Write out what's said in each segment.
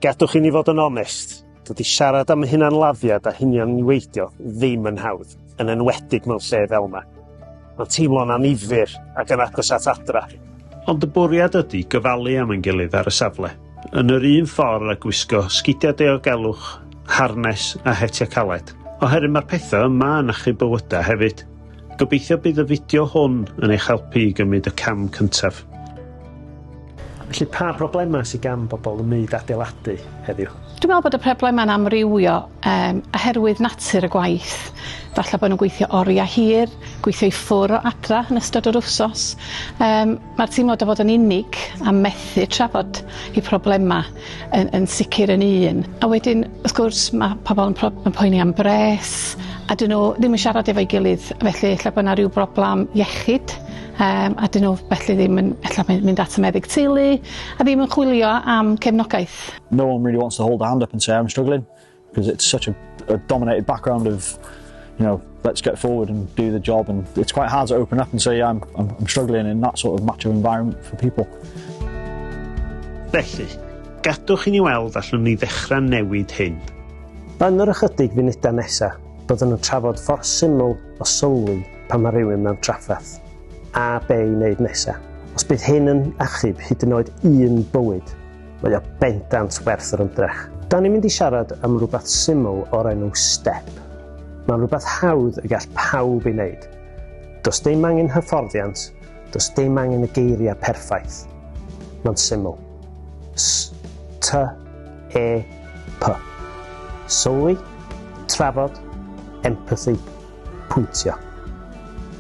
Gadwch i ni fod yn onest, dydy siarad am hunanladdiad a hunianniweidio ddim yn hawdd, yn enwedig mewn lle fel yma. Mae'n teimlo'n annifyr ac yn agos at adra. Ond y bwriad ydy gyfalu am ein gilydd ar y safle, yn yr un ffordd â gwisgo sgidiau diogelwch, harnes a hetiau caled, oherwydd mae'r pethau yma yn achub bywydau hefyd. Gobeithio bydd y fideo hwn yn eich helpu i gymryd y cam cyntaf. Felly pa broblemau sydd gan bobl ym myd adeiladu heddiw? Dwi'n meddwl bod y problemau'n amrywio um, oherwydd natur y gwaith. Falle bod nhw'n gweithio oriau hir, gweithio i ffwr o adra yn ystod yr wsos. Um, Mae'r teimlad o fod yn unig a methu trafod y problemau yn yn sicr yn un. A wedyn wrth gwrs mae pobl yn pro- yn poeni am bres a 'dyn nhw ddim yn siarad efo'i gilydd felly ella bod 'na ryw broblam iechyd yym a 'dyn nhw felly ddim yn ella mynd mynd at y meddyg teulu a ddim yn chwilio am cefnogaeth. No one really wants to hold a hand up and say I'm struggling. Because it's such a, a dominated background of, you know, let's get forward and do the job. And it's quite hard to open up and say, yeah, I'm, I'm, I'm struggling in that sort of macho environment for people. Felly, gadwch i ni weld allwn ni ddechrau newid hyn. Yn yr ychydig funudau nesaf, byddwn yn trafod ffordd syml o sylwi pan mae rhywun mewn trafferth, a be i wneud nesaf. Os bydd hyn yn achub hyd yn oed un bywyd, Mae o bendant werth yr ymdrech. Da ni'n mynd i siarad am rhywbeth syml o'r enw step. Mae'n rhywbeth hawdd y gall pawb ei wneud. Does dim angen hyfforddiant, does dim angen y geiriau perffaith. Mae'n syml. S, T, E, P. Sylwi, trafod, empathy, pwyntio.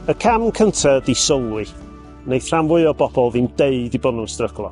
Y cam cyntaf ydi sylwi. Wneith rhan fwy o bobl ddim deud i bod nhw'n stryglo.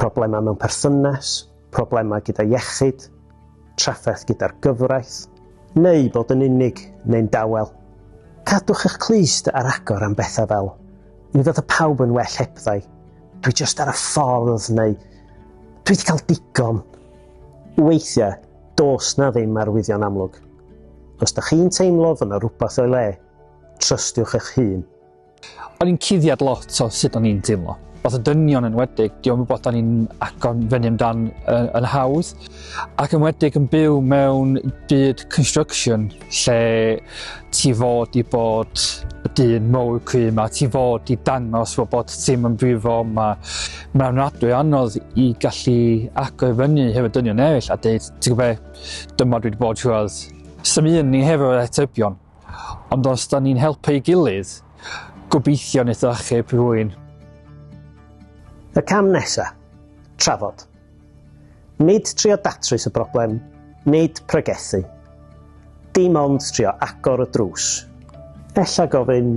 problemau mewn perthynas, problemau gyda iechyd, trafferth gyda'r gyfraith, neu bod yn unig neu'n dawel. Cadwch eich clust ar agor am bethau fel, mi fydda pawb yn well hebddau, dwi just ar y ffordd neu dwi wedi cael digon. Weithiau, dos na ddim arwyddion amlwg. Os da chi'n teimlo fod yna rhywbeth o'i le, trystiwch eich hun. O'n i'n cuddiad lot o sut o'n i'n teimlo. Oedd y dynion yn wedig, diolch yn bod o'n i'n agor fyny amdan yn, yn hawdd, ac yn wedig yn byw mewn byd construction lle ti fod i bod y dyn mowr cry yma, ti fod i dangos fod bod ti'n yn brifo yma. Mae'n ofnadwy anodd i gallu agor fyny hefyd dynion eraill a dweud, ti'n gwybod, dyma dwi wedi bod trwodd. Sy'n un ni hefyd o'r atebion. Ond os da ni'n helpu ei gilydd, gobeithio wneith o achub rhywun. Y cam nesa? Trafod. Nid trio datrys y broblem, nid pregethu. Dim ond trio agor y drws. Ella gofyn,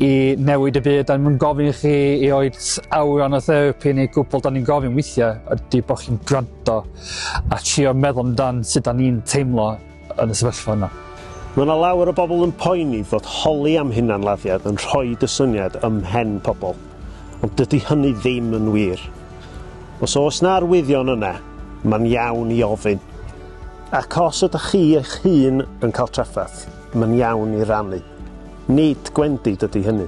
i newid y byd, da ni'n gofyn i chi i oed awran o therapi neu gwbl, da ni'n gofyn weithiau ydy bod chi'n gwrando a trio meddwl amdan sut da ni'n teimlo yn y sefyllfa yna. Mae yna lawer o bobl yn poeni fod holi am hunanladdiad yn rhoi y syniad ym mhen pobl, ond dydy hynny ddim yn wir. Os oes na arwyddion yna, mae'n iawn i ofyn. Ac os ydych chi eich hun yn cael trafferth, mae'n iawn i rannu. Nid gwendid ydy hynny.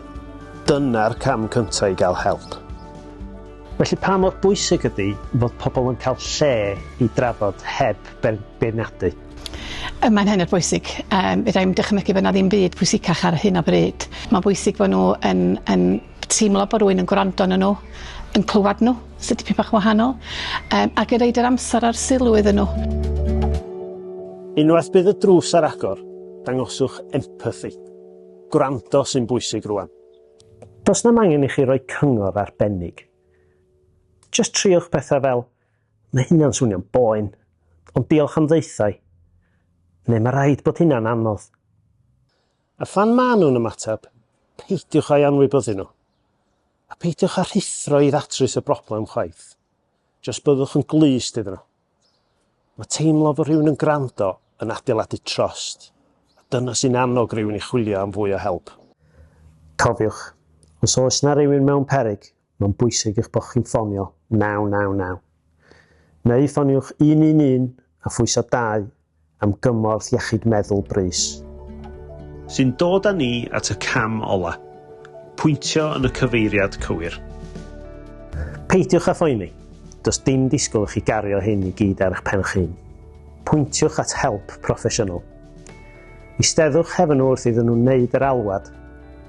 Dyna'r cam cyntaf i gael help. Felly pa mor bwysig ydy fod pobl yn cael lle i drafod heb beirniadu? Mae'n hynod bwysig. Yym, fedra i'm dychmygu bod 'na ddim byd pwysicach ar hyn o bryd. Mae'n bwysig bod nhw yn yn teimlo bod rhywun yn gwrando arnyn nhw, yn clywed nhw, sy'n dipyn bach yn wahanol, yym, ac yn roid yr amser a'r sylw iddyn nhw. Unwaith bydd y drws ar agor, Dangoswch empathi. Gwrando sy'n bwysig rwan. Does na'm angen i chi roi cyngor arbennig. Jyst triwch pethau fel, Mae hynna'n swnio'n boen, ond diolch am ddaethau, neu Mae rhaid bod hynna'n anodd. A phan maen nhw'n ymateb, peidiwch â'i anwybyddu nhw. A peidiwch â rhuthro i ddatrys y broblem chwaith. Jyst byddwch yn glust iddyn nhw. Mae teimlo fod rhywun yn gwrando yn adeiladu trost, a dyna sy'n annog rhywun i chwilio am fwy o help. Cofiwch, os oes yna rywun mewn peryg, mae'n bwysig eich bod chi'n ffonio 999. Neu ffoniwch 111 a phwyso 2 am gymorth iechyd meddwl brys. Sy'n dod â ni at y cam ola', pwyntio yn y cyfeiriad cywir. Peidiwch â phoeni, does dim disgwyl i chi gario hyn i gyd ar eich pen'ch hun. Pwyntiwch at help proffesiynol. Eisteddwch hefn nhw wrth iddyn nhw wneud yr alwad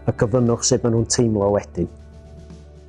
a gofynnwch sut maen nhw'n teimlo wedyn.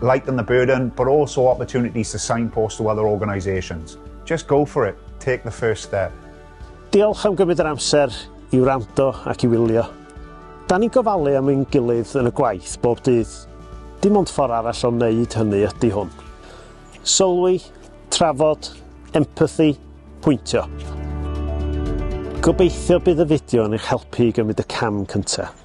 Lighten the burden, but also opportunities to signpost to other organisations. Just go for it, take the first step. Diolch am gymryd yr amser i wrando ac i wylio. Da ni'n gofalu am ein gilydd yn y gwaith bob dydd. Dim ond ffordd arall o wneud hynny ydy hwn. Sylwi, trafod, empathy, pwyntio. Gobeithio bydd y fideo yn eich helpu i gymryd y cam cyntaf.